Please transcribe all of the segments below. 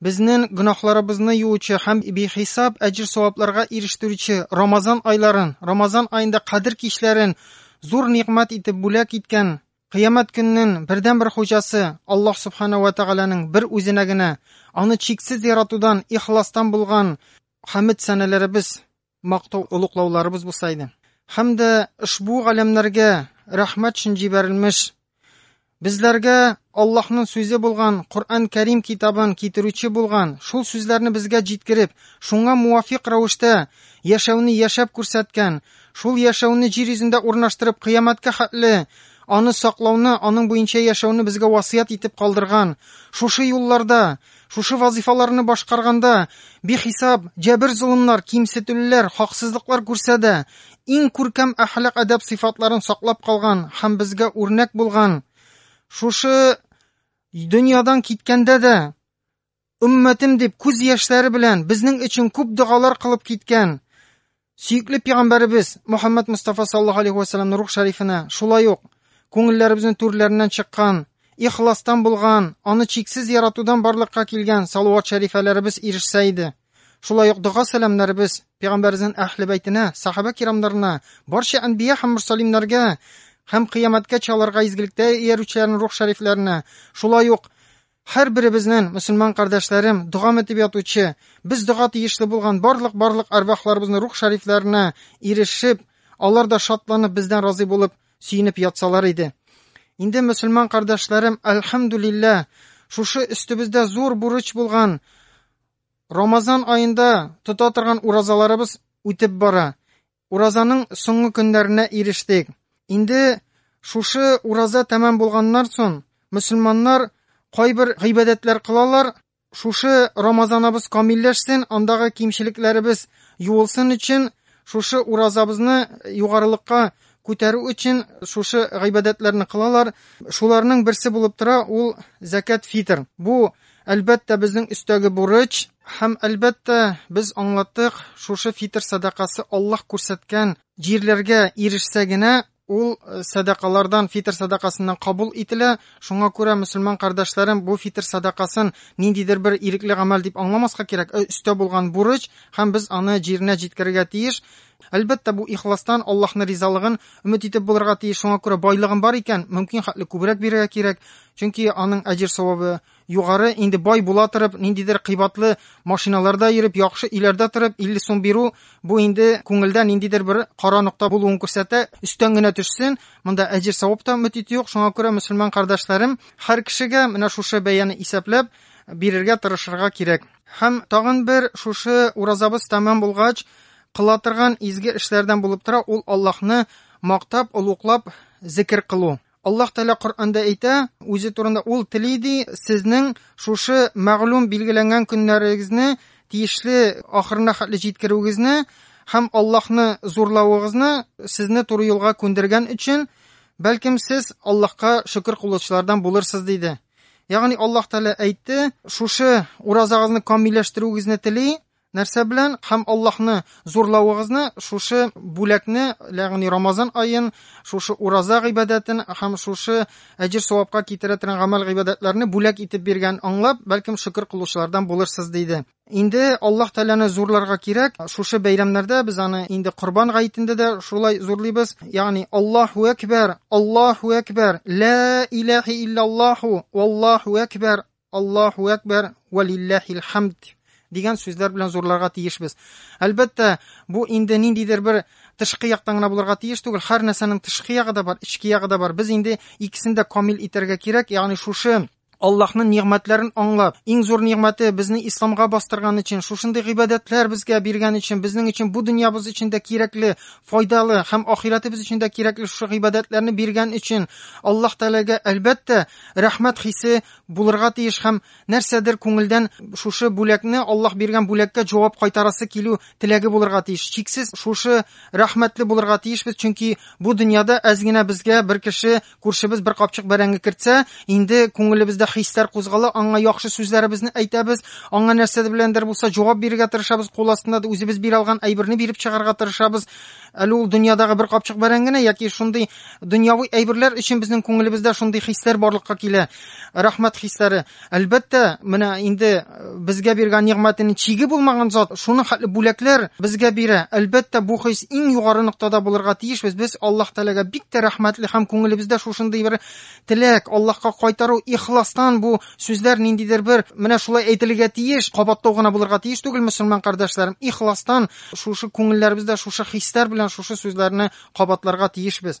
Безнен гөнаһларыбызны юучы һәм бихисап әҗер-савапларга ирештерүче Рамазан айларын, Рамазан аенда Кадер кичләрен зур нигъмәт итеп бүләк иткән Кыямәт көннен бердәнбер хуҗасы Аллаһ Субхана вә Тәгаләнең бер үзенә генә, аны чиксез яратудан, ихластан булган хәмед-сәналәребез, мактау олуклауларыбыз булса иде. Һәм дә ошбу галәмнәргә рәхмәт өчен җибәрелмеш Безләргә Аллаһның сүзе булган Коръән Кәрим китабын китерүче булган, шул сүзләрне безгә җиткереп, шуңа муафик рәвештә яшәүне яшәп күрсәткән, шул яшәүне җир йөзендә урнаштырып, кыямәткә хәтле аны саклауны, аның буенча яшәүне безгә васыять итеп калдырган. Шушы юлларда Шушы вазыйфаларны башкарганда бихисап җәбер-золымнар, кимсетүлеләр, хаксызлыклар күрсә дә, иң күркәм әхлак-әдәп сыйфатларын саклап калган һәм безгә үрнәк булган, шушы дөньядан киткәндә дә, өммәтем дип күз яшьләре белән безнең өчен күп догалар кылып киткән, Сөекле пигамбәребез Мөхәммәд Мустафа саллаллаһу алейхи вәсәлләмне рух шәрифенә, шулай ук күңелләребезнең түрләреннән чыккан, ихластан булган, аны чиксез яратудан барлыкка килгән салават шәрифәләребез ирешсә иде. Шулай ук дога сәламнәребез пигамбәребезнең әһле бәйтенә, сахабә кирамнарына, барча әнбия һәм мөрсәлимнәргә һәм кыямәткә чалырга изгелектә иярүчеләрнең рух шәрифләренә, шулай ук Һәр беребезнен, мөселман кардәшләрем, догам итеп ятучы, без дога тиешле булган барлык барлык арвахларыбызны рух шарифләренә ирешеп, алар да шатланып бездән разый булып, сөенеп ятсалар иде. Инде мөселман кардәшләрем, әлхәмдүлиллә, шушы өстебездә зур бурыч булган Рамазан аенда тота торган уразаларыбыз үтеп бара. Уразаның соңгы көннәренә ирештек. Инде шушы ураза тәмам булганнар сон, мөселманнар кайбер гыйбадәтләр кылалар, шушы рамазанабыз камилләшсен, андагы кимчелекләребез юылсын өчен, шушы уразабызны югарылыкка күтәрү өчен шушы гыйбадәтләрне кылалар. Шуларның берсе булып тора ул зәкәт фитр. Бу Әлбәттә, безнең өстәге бурыч, һәм, әлбәттә, без аңлаттык, шушы фитр сәдакасы Аллаһ күрсәткән җирләргә ирешсә генә, ул э, сәдакалардан, фитр сәдакасыннан кабул ителә. Шуңа күрә, мөселман кардәшләрем, бу фитр сәдакасын ниндидер бер ирекле гамәл дип аңламаска кирәк, э, өстә булган бурыч, һәм без аны җиренә җиткерергә тиеш. Әлбәттә, бу ихластан, Аллаһны ризалыгын өмет итеп булырга тиеш, шуңа күрә байлыгың бар икән, мөмкин хәтле күбрәк бирергә кирәк, чөнки аның әҗер-савабы югары, инде бай була торып, ниндидер кыйбатлы машиналарда йөреп, яхшы өйләрдә торып, 50 сум бирү, бу инде күңелдә ниндидер бер кара нокта булуын күрсәтә, өстән генә төшсен, монда әҗер-савап та өмет итү юк, шуңа күрә, мөселман кардәшләрем, һәр кешегә менә шушы бәяне исәпләп, бирергә тырышырга кирәк. Һәм тагын бер шушы уразабыз тәмам булгач, кыла торган изге эшләрдән булып тора ул Аллаһны мактап, олуглап зикер кылу. Аллаһ Тәгалә Коръәндә әйтә, үзе турында ул тели ди, сезнең шушы мәгълүм билгеләнгән көннәрегезне тиешле ахырына хәтле җиткерүегезне һәм Аллаһны зурлавыгызны сезне туры юлга күндергән өчен, бәлкем сез Аллаһка шөкер кылучылардан булырсыз, диде. Ягъни Аллаһ Тәгалә әйтте, шушы уразагызны камилләштерүегезне тели, нәрсә белән һәм Аллаһны зурлавыгызны шушы бүләкне, ягъни Рамазан аен, шушы ураза гыйбадәтен һәм шушы әҗер савапка китерә торган гамәл гыйбадәтләрне бүләк итеп биргән аңлап, бәлкем шөкер кылучылардан булырсыз диде. Инде Аллаһ Тәгаләне зурларга кирәк. Шушы бәйрәмнәрдә без аны инде Корбан гаетендә дә шулай зурлыйбыз. Ягъни Аллаһу әкбәр, Аллаһу әкбәр, ла илаһи иллаллаһу, валлаһу әкбәр, Аллаһу әкбәр, валиллаһил хамд дигән сүзләр белән зурларга тиешбез. Әлбәттә, бу инде ниндидер бер тышкы яктан гына булырга тиеш түгел. Һәр нәрсәнең тышкы ягы да бар, эчке ягы да бар. Без инде икесен дә камил итәргә кирәк. Ягъни шушы Аллаһның нигъмәтләрен аңлап, иң зур нигъмәте безне исламга бастырган өчен, шушындый гыйбадәтләр безгә биргән өчен, безнең өчен бу дөньябыз өчен дә кирәкле, файдалы һәм ахирәтебез өчен дә кирәкле шушы гыйбадәтләрне биргән өчен Аллаһ Тәгаләгә, әлбәттә, рәхмәт хисе булырга тиеш һәм нәрсәдер күңелдән шушы бүләкне, Аллаһ биргән бүләккә җавап кайтарасы килү теләге булырга тиеш. Чиксез шушы рәхмәтле булырга тиешбез, чөнки бу дөньяда әз генә безгә бер кеше Күршебез бер капчык бәрәңге кертсә, инде күңелебездә хисләр кузгала, аңа яхшы сүзләребезне әйтәбез, аңа нәрсә беләндер булса җавап бирергә тырышабыз, кул астында да үзебез бирә алган әйберне биреп чыгарга тырышабыз. Әле ул дөньядагы бер капчык бәрәңгене яки шундый дөньяви әйберләр өчен безнең күңелебездә шундый хисләр барлыкка килә. Рәхмәт хисләре. Әлбәттә, менә инде э, безгә биргән нигъмәтенең чиге булмаган зат, шуның хәтле бүләкләр безгә бирә. Әлбәттә, бу хис иң югары ноктада булырга тиеш. Без без Аллаһ Тәгаләгә бик тә рәхмәтле һәм күңелебездә шушындый бер теләк, Аллаһка кайтару, ихластан бу сүзләр ниндидер бер менә шулай әйтелергә тиеш, кабатлау гына булырга тиеш түгел, мөселман кардәшләрем. Ихластан шушы күңелләребездә шушы хисләр белән шушы сүзләрне кабатларга тиешбез.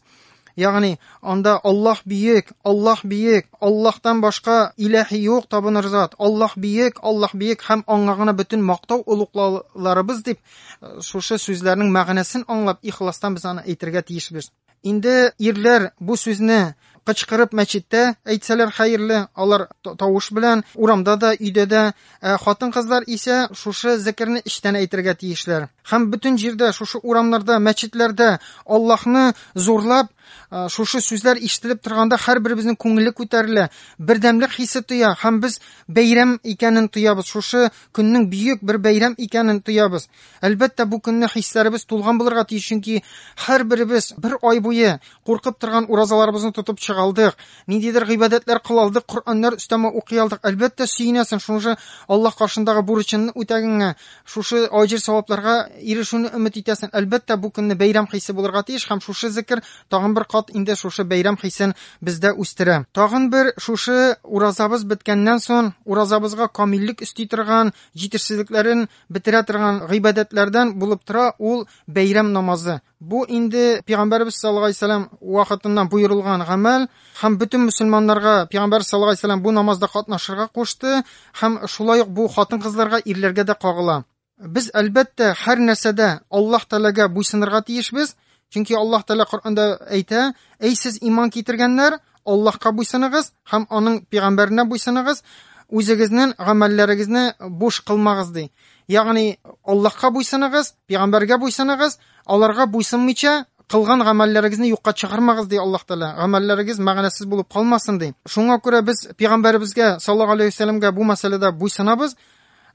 Ягъни, анда Аллаһ биек, Аллаһ биек, Аллаһтан башка иләһи юк табыныр зат, Аллаһ биек, Аллаһ биек һәм аңа гына бөтен мактау олуглауларыбыз дип, э, шушы сүзләрнең мәгънәсен аңлап, ихластан без аны әйтергә тиешбез. Инде ирләр бу сүзне кычкырып мәчеттә әйтсәләр хәерле, алар тавыш белән урамда да, өйдә дә Ә хатын-кызлар исә шушы зекерне эчтән әйтергә тиешләр. Һәм бөтен җирдә, шушы урамнарда, мәчетләрдә Аллаһны зурлап, э, шушы сүзләр ишетелеп торганда һәрберебезнең күңеле күтәрелә, бердәмлек хисе тоя һәм без бәйрәм икәнен тоябыз, шушы көннең бөек бер бәйрәм икәнен тоябыз. Әлбәттә, бу көнне хисләребез тулган булырга тиеш, чөнки һәрберебез бер ай буе куркып торган уразаларыбызны тотып чыгалдык, Ниндидер гыйбадәтләр кыла алдык, Коръәннәр өстәмә укый алдык. Әлбәттә, сөенәсең, шушы Аллаһ каршындагы бурычыңны үтәгәнгә, шушы аҗр-савапларга ирешүне өмет итәсең. Әлбәттә, бу көнне бәйрәм хисе булырга тиеш, һәм шушы зикер тагын бер кат инде шушы бәйрәм хисен бездә үстерә. Тагын бер шушы уразабыз беткәннән сон, уразабызга камиллек өсти торган, җитешсезлекләрен бетерә торган гыйбадәтләрдән булып тора ул бәйрәм намазы. Бу инде пәйгамбәрбез саллаллаһу алейһи вәсәлләм вакытыннан боерылган гамәл һәм бөтен мөселманнарга пәйгамбәр саллаллаһу алейһи вәсәлләм бу намазда катнашырга кушты һәм шулай ук бу хатын-кызларга, ирләргә дә кагыла. Без, әлбәттә, һәр нәрсәдә Аллаһ Тәгаләгә буйсынырга тиешбез, чөнки Аллаһ Тәгалә Коръәндә әйтә, Әй сез иман китергәннәр, Аллаһка буйсыныгыз һәм аның пигамбәренә буйсыныгыз, үзегезнең гамәлләрегезне буш кылмагыз ди. Ягъни Аллаһка буйсыныгыз, пигамбәргә буйсыныгыз, аларга буйсынмыйча кылган гамәлләрегезне юкка чыгармагыз ди Аллаһ Тәгалә. Гамәлләрегез мәгънәсез булып калмасын ди. Шуңа күрә без пигамбәребезгә саллаллаһу алейхи вәсәләмгә бу мәсьәләдә буйсынабыз.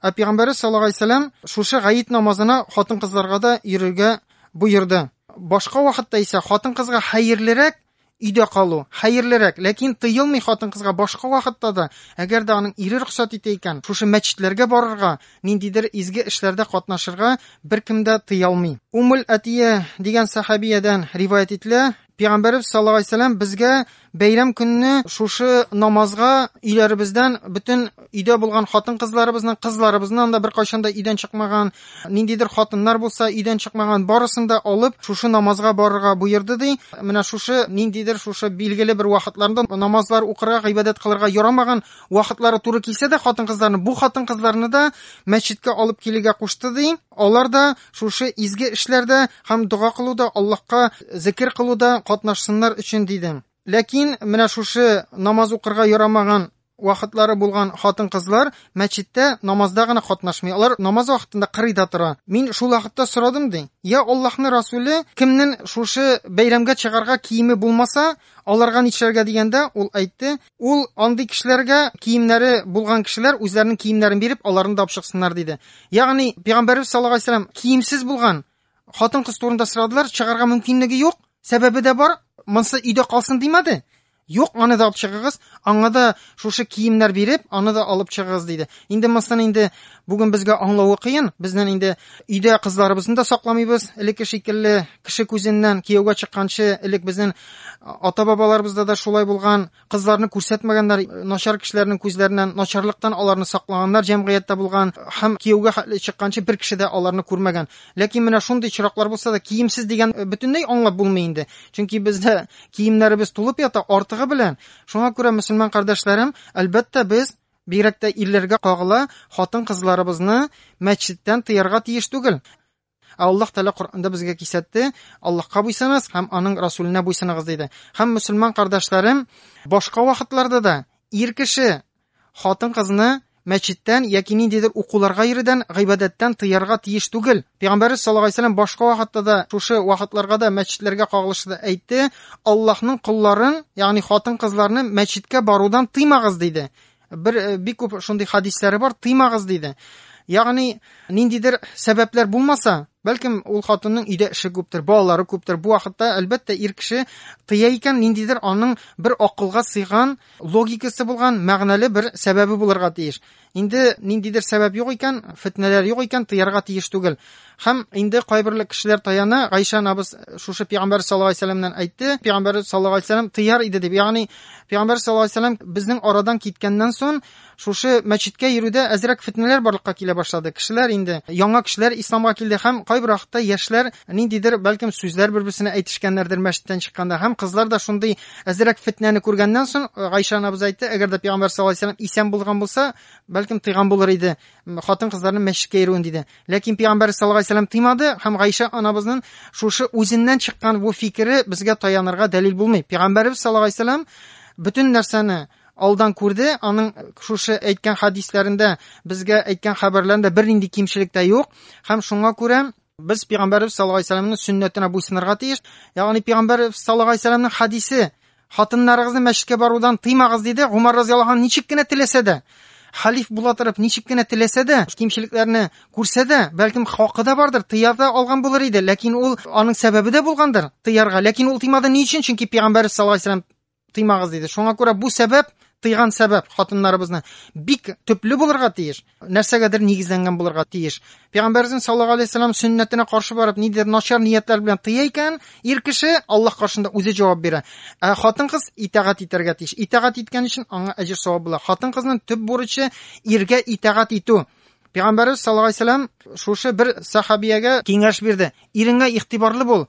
Ә пигамбәребез саллаллаһу алейхи вәсәләм шушы гаит намазына хатын-кызларга да йөрергә боерды. Башка вакытта исә хатын-кызга хәерлерәк Өйдә калу, хәерлерәк, ләкин тыелмый хатын-кызга башка вакытта да, әгәр дә аның ире рөхсәт итә икән, шушы мәчетләргә барырга, ниндидер изге эшләрдә катнашырга беркем дә тыя алмый. Уммул Әтия дигән сәхәбиядән риваять ителә, Пәйгамбәребез саллаллаһу алейһи ва сәлләм безгә бәйрәм көнне шушы намазга өйләребездән бөтен өйдә булган хатын-кызларыбызның, кызларыбызның да беркайчан да өйдән чыкмаган, ниндидер хатыннар булса өйдән чыкмаган, барысын да алып, шушы намазга барырга буерды ди. Менә шушы ниндидер шушы билгеле бер вакытларында намазлар укырга, гыйбадәт кылырга ярамаган вакытлары туры килсә дә хатын-кызларны, бу хатын-кызларны да мәчеткә алып килергә кушты ди. Алар да шушы изге эшләрдә һәм дога кылуда, Аллаһка зикер кылуда катнашсыннар өчен диде. Ләкин менә шушы намаз укырга ярамаган вакытлары булган хатын-кызлар мәчеттә намазда гына катнашмый. Алар намаз вакытында кырыйда тора. Мин шул вакытта сорадым, ди. Я Аллаһны Расуле, кемнен шушы бәйрәмгә чыгарга киеме булмаса, аларга нишләргә дигәндә, ул әйтте, ул андый кешеләргә киемнәре булган кешеләр үзләренең киемнәрен биреп, аларны да апшыксыннар диде. Ягъни Пәйгамбәрбез саллаллаһу алейһи вәсәлләм киемсез булган хатын-кыз турында сорадылар, чыгарга мөмкинлеге юк, сәбәбе дә бар, монсы өйдә калсын димәде. Юк, аны да алып чыгыгыз, аңа да шушы киемнәр биреп, аны да алып чыгыгыз, диде. Инде монысын инде бүген безгә аңлавы кыен. Безнен инде өйдә кызларыбызны да сакламыйбыз, элекке шикелле кеше күзеннән кияүгә чыкканчы, элек безнен ата-бабаларыбызда да шулай булган. Кызларны күрсәтмәгәннәр, начар кешеләрнең күзләреннән начарлыктан аларны саклаганнар җәмгыятьтә булган һәм кияүгә хәтле чыкканчы бер кеше дә аларны күрмәгән. Ләкин менә шундый чираклар булса да, киемсез дигән бөтенләй аңлап булмый инде. Чөнки бездә Киемнәребез тулып ята, артыгы белән. Шуңа күрә, мөселман кардәшләрем, әлбәттә, без, бигрәк тә ирләргә кагыла, хатын-кызларыбызны мәчеттән тыярга тиеш түгел. Ә Аллаһ Тәгалә Коръәндә безгә кисәтте, Аллаһка буйсыныз һәм аның Расүленә буйсыныгыз диде. Һәм мөселман кардәшләрем, башка вакытларда да ир кеше Хатын-кызны мәчеттән яки ниндидер укуларга йөрүдән, гыйбадәттән тыярга тиеш түгел. Пәйгамбәрбез саллаллаһу алейһи ва башка вакытта да, шушы вакытларга да мәчетләргә кагылышлы да әйтте, Аллаһның колларын, ягъни хатын-кызларны мәчеткә барудан тыймагыз, диде. Бер э, бик күп шундый хадисләре бар, тыймагыз, диде. Ягъни ниндидер сәбәпләр булмаса, бәлкем ул хатынның өйдә эше күптер, балалары күптер. Бу вакытта, әлбәттә, ир кеше тыя икән, ниндидер аның бер акылга сыйган логикасы булган мәгънәле бер сәбәбе булырга тиеш. Инде ниндидер сәбәп юк икән, фетнәләр юк икән, тыярга тиеш түгел. Һәм инде кайберле кешеләр таяна, Гайшә анабыз шушы пигамбәр саллаллаһу алейһи вәсәләмнән әйтте, пигамбәр саллаллаһу алейһи вәсәләм тыяр иде дип. Ягъни пигамбәр саллаллаһу алейһи вәсәләм безнең арадан киткәннән соң Шушы мәчеткә йөрүдә әзрәк фетнәләр барлыкка килә башлады. Кешеләр инде, яңа кешеләр исламга килде һәм кайбер вакытта яшьләр ниндидер, бәлкем, сүзләр бер-берсенә әйтешкәннәрдер мәчеттән чыкканда һәм кызлар да шундый әзрәк фетнәне күргәннән сон, Гайшә анабыз әйтте, әгәр дә пәйгамбәр саллаллаһу алейһи ва сәлләм исән булган булса, бәлкем, тыйган булыр иде хатын-кызларның мәчеткә йөрүен, диде. Ләкин пәйгамбәр саллаллаһу алейһи ва сәлләм тыймады һәм Гайшә анабызнын шушы үзеннән чыккан бу фикере безгә таянырга дәлил булмый. Пәйгамбәребез саллаллаһу алейһи ва сәлләм бөтен нәрсәне, алдан күрде, аның шушы әйткән хәдисләрендә безгә әйткән хәбәрләрендә бернинди кимчелек тә юк. Һәм шуңа күрә без пәйгамбәрбез саллаллаһу алейһи вәсәлләмнең сөннәтенә буйсынырга тиеш. Ягъни пәйгамбәрбез саллаллаһу алейһи вәсәлләмнең хәдисе хатыннарыгызны мәчеткә барудан тыймагыз диде. Гомар разыяллаһу анһу ничек кенә теләсә дә, халиф була торып ничек кенә теләсә дә, кимчелекләрне күрсә дә, бәлкем хакы да бардыр, тыя да алган булыр иде, ләкин ул аның сәбәбе дә булгандыр тыярга, ләкин ул тыймады ни өчен? Чөнки пәйгамбәрбез саллаллаһу алейһи вәсәлләм тыймагыз диде. Шуңа күрә бу сәбәп, тыйган сәбәп хатыннарыбызны бик төпле булырга тиеш, нәрсәгәдер нигезләнгән булырга тиеш. Пәйгамбәрбез саллаллаху алейһи вәсәлләм сөннәтенә каршы барып, нидер начар ниятләр белән тыя икән, ир кеше Аллаһ каршында үзе җавап бирә. Ә хатын-кыз итагать итәргә тиеш. Итагать иткән өчен аңа әҗер савап була. Хатын-кызның төп бурычы иргә итагать итү. Пәйгамбәрбез саллаллаху алейһи вәсәлләм шушы бер сахабиягә киңәш бирде. Иреңә игътибарлы бул,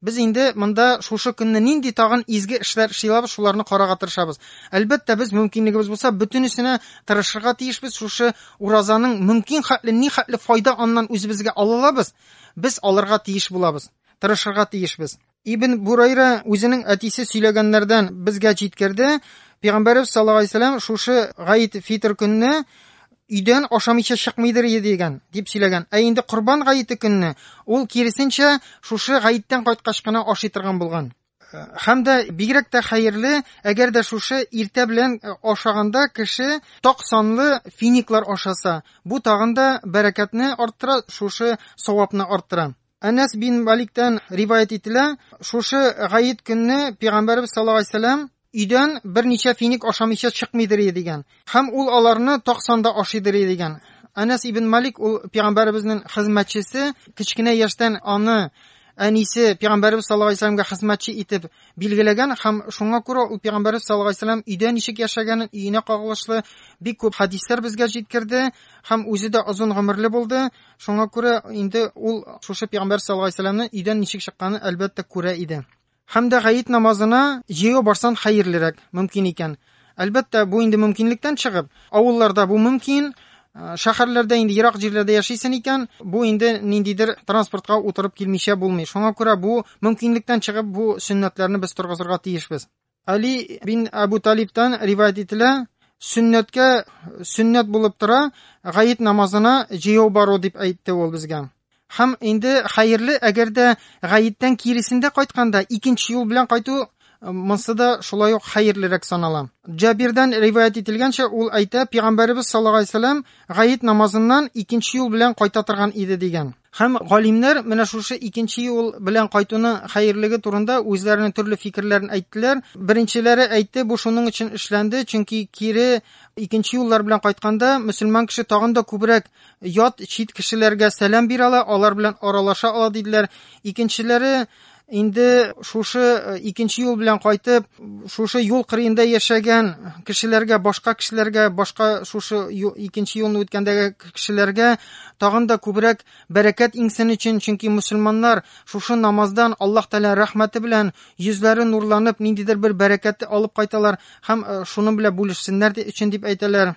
Без инде монда шушы көнне нинди тагын изге эшләр эшли алабыз, шуларны карарга тырышабыз. Әлбәттә, без мөмкинлегебез булса, бөтенесенә тырышырга тиешбез, шушы уразаның мөмкин хәтле ни хәтле файда аннан үзебезгә ала алабыз, без алырга тиеш булабыз, тырышырга тиешбез. Ибн Бурайра үзенең әтисе сөйләгәннәрдән безгә җиткерде, Пәйгамбәребез саллаллаһу галәйһи ва сәлләм шушы Гайд-Фитр көнне өйдән ашамыйча чыкмыйдыр иде дигән, дип сөйләгән. Ә инде Корбан гаете көнне ул киресенчә шушы гаеттән кайткач кына ашый торган булган. Э, һәм дә бигрәк тә хәерле, әгәр дә шушы иртә белән э, ашаганда кеше ток санлы финиклар ашаса, бу тагын да бәрәкәтне арттыра, шушы савапны арттыра. Әнәс бин Маликтән риваять ителә, шушы гаит көнне Пәйгамбәрбез саллаллаһу алейһи Өйдән берничә финик ашамыйча чыкмыйдыр ие дигән. Һәм ул аларны так санда ашыйдыр ие дигән. Әнәс ибн Малик ул пигамбәребезнен хезмәтчесе, кечкенә яшьтән аны әнисе пигамбәребез саллаллаһу алейһи вәсәләмгә хезмәтче итеп билгеләгән һәм шуңа күрә ул пигамбәребез саллаллаһу алейһи вәсәләм өйдә ничек яшәгәнен, өенә кагылышлы бик күп хәдисләр безгә җиткерде һәм үзе дә озын гомерле булды, шуңа күрә инде ул шушы пигамбәребез саллаллаһу алейһи вәсәләмнең өйдән ничек чыкканын әлбәттә күрә иде. Һәм дә гает намазына җәяү барсан хәерлерәк, мөмкин икән. Әлбәттә, бу инде мөмкинлектән чыгып, авылларда бу мөмкин, шәһәрләрдә инде ерак җирләрдә яшисен икән, бу инде ниндидер транспортка утырып килмичә булмый. Шуңа күрә бу мөмкинлектән чыгып бу сөннәтләрне без торгызырга тиешбез. Али бин Абу Талибтан риваять ителә, сөннәткә сөннәт булып тора, гает намазына җәяү бару дип әйтте ул безгә. Һәм инде хәерле, әгәр дә гаеттән киресендә кайтканда икенче юл белән кайту э, монсы да шулай ук хәерлерәк санала. Җабирдан риваять ителгәнчә, ул әйтә, пәйгамбәребез саллаллаһу алейһи вәсәлләм гаит намазыннан икенче юл белән кайта торган иде дигән. Һәм галимнәр менә шушы икенче юл белән кайтуның хәерлеге турында үзләренең төрле фикерләрен әйттеләр. Беренчеләре әйтте, бу шуның өчен эшләнде, чөнки кире икенче юллар белән кайтканда мөселман кеше тагын да күбрәк ят чит кешеләргә сәлам бирә ала, алар белән аралаша ала диделәр. Икенчеләре инде шушы э, икенче юл белән кайтып, шушы юл кырыенда яшәгән кешеләргә, башка кешеләргә, башка шушы икенче юлны үткәндәге кешеләргә тагын да күбрәк бәрәкәт иңсен өчен, чөнки мусульманнар шушы намаздан Аллаһ Тәгалә рәхмәте белән йөзләре нурланып, ниндидер бер бәрәкәтте алып кайталар һәм э, шуның белән бүлешсеннәр өчен дип әйтәләр.